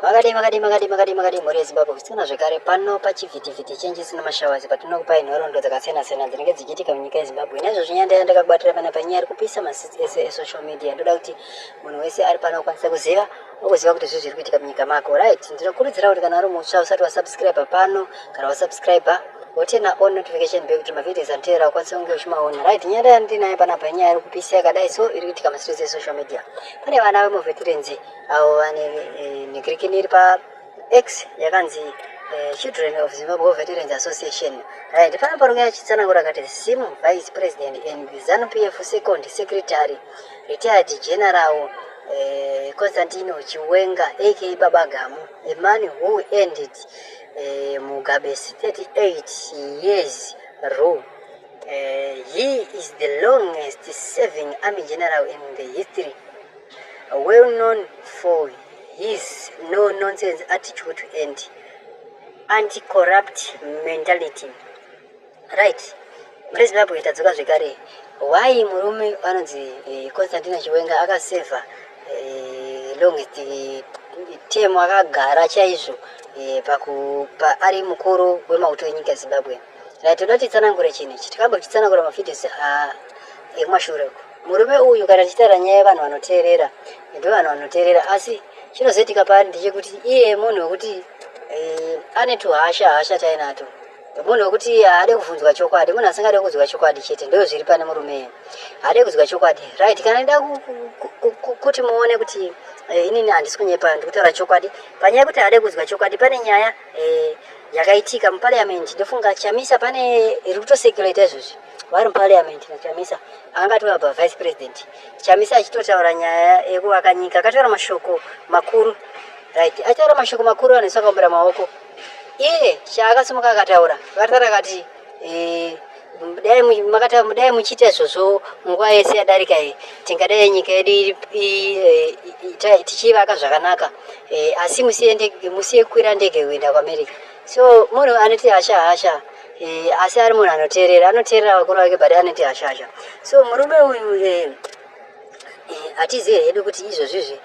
Makadii makadii makadii makadii makadii mhuri yeZimbabwe kusikana zvekare pano pachivhitivhiti chenji isina mashawazi patinokupai nhoroondo dzakasiyana-siyana dzinenge dzichiitika munyika yeZimbabwe naizvozvo nyaya ndaiya ndakakubatira pana panyaya iri kupisa masitsi ese esocial media ndoda kuti munhu wese ari pano akwanise kuziva ukuziva kuti zvii zviri kuitika munyika mako right ndinokurudzira kuti kana uri mutsva usati wasubscribe pano kana wasubscribe wotena on notification bell kuti mavidios anotevera ukwanise kunge uchimaona right nyaya ndaiya ndinayo panapa inyaya iri kupisa yakadai so iri kuitika masitsi esocial media pane vana vemuveterenzi avo vane nekrikini iri pa x yakanzi Eh, children of Zimbabwe Veterans Association. Right, pana parume achitsanangura akati Sim Vice President and ZANU PF Second Secretary Retired General uh, Constantino Chiwenga aka Baba Gamu, a man who ended uh, Mugabe's 38 years rule. Uh, he is the longest serving army general in the history well known for his no nonsense attitude to end anti corrupt mentality right muri zimbabwe tadzoka zvekare why murume anonzi eh, constantina chiwenga akaseva eh, longest eh, term akagara chaizvo pakupa ari mukuru wemauto enyika yezimbabwe right toda titsanangure chinhu ichi tikambo chitsanangura mafidhisi ekumashure uko Murume uyu kana tichitaura nyaya yevanhu vanoteerera ndovanhu vanoteerera asi chinozoitika paari ndechekuti iye munhu wekuti eh, ane tuhasha hasha tainato munhu wekuti haade kuvhunzwa chokwadi munhu asingade kunzwa chokwadi chete ndo zviri pane murume iye haade kunzwa chokwadi right kana ida kuti muone kuti eh, inini handisi kunyepa ndikutaura chokwadi panyaya yekuti haade kunzwa chokwadi pane nyaya eh, yakaitika muparliament ndofunga chamisa pane iri kutosecurata izvozvi vari muparliament nachamisa anga atori apa vice president chamisa achitotaura nyaya yekuvaka nyika akataura mashoko makuru right achitaura mashoko makuru anhu isakaombera maoko iye chaakasimuka akataura vakatara akati eh, dai muchiita izvozvo nguva yese yadarika iyi tingadai nyika yedu eh, tichiivaka zvakanaka eh, asi musiye kukwira ndege kuenda kuamerica so munhu anoti hasha hasha Eh, asi ari munhu anoteerera anoteerera vakuru vake but anoti hashasha so murume uyu eh, eh, hatizive hedu kuti izvozvizvi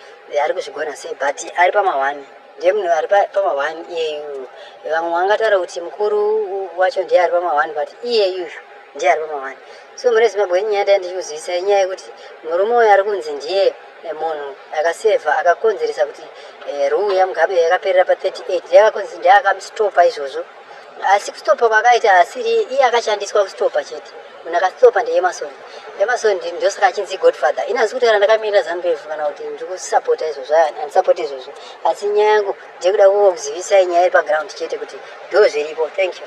ari kuzvigona sei but ari pamahwani ndemunhu ari pama one iyeyu vamwe vangataura kuti mukuru wacho ndiye ari pama one but iyeyu ndiye ari pama one so mune zimbabwe inyaya ndai ndichikuzivisa inyaya yekuti murume uyo ari kunzi ndiye eh, munhu akasevha akakonzeresa kuti eh, ruu yamugabe yakaperera pa 38 ndiye akakonzi ndiye akamstopa izvozvo asi kustopa kwakaita asiri iye akashandiswa kustopa chete munhu akastopa ndeemason emason ndosaka achinzi godfather ini asi kutaura ndakamirira zambefu kana kuti ndiri kusapota izvozvo andisapoti izvozvo asi nyaya yangu ndekuda kuzivisai nyaya iri paground chete kuti ndo zviripo thank you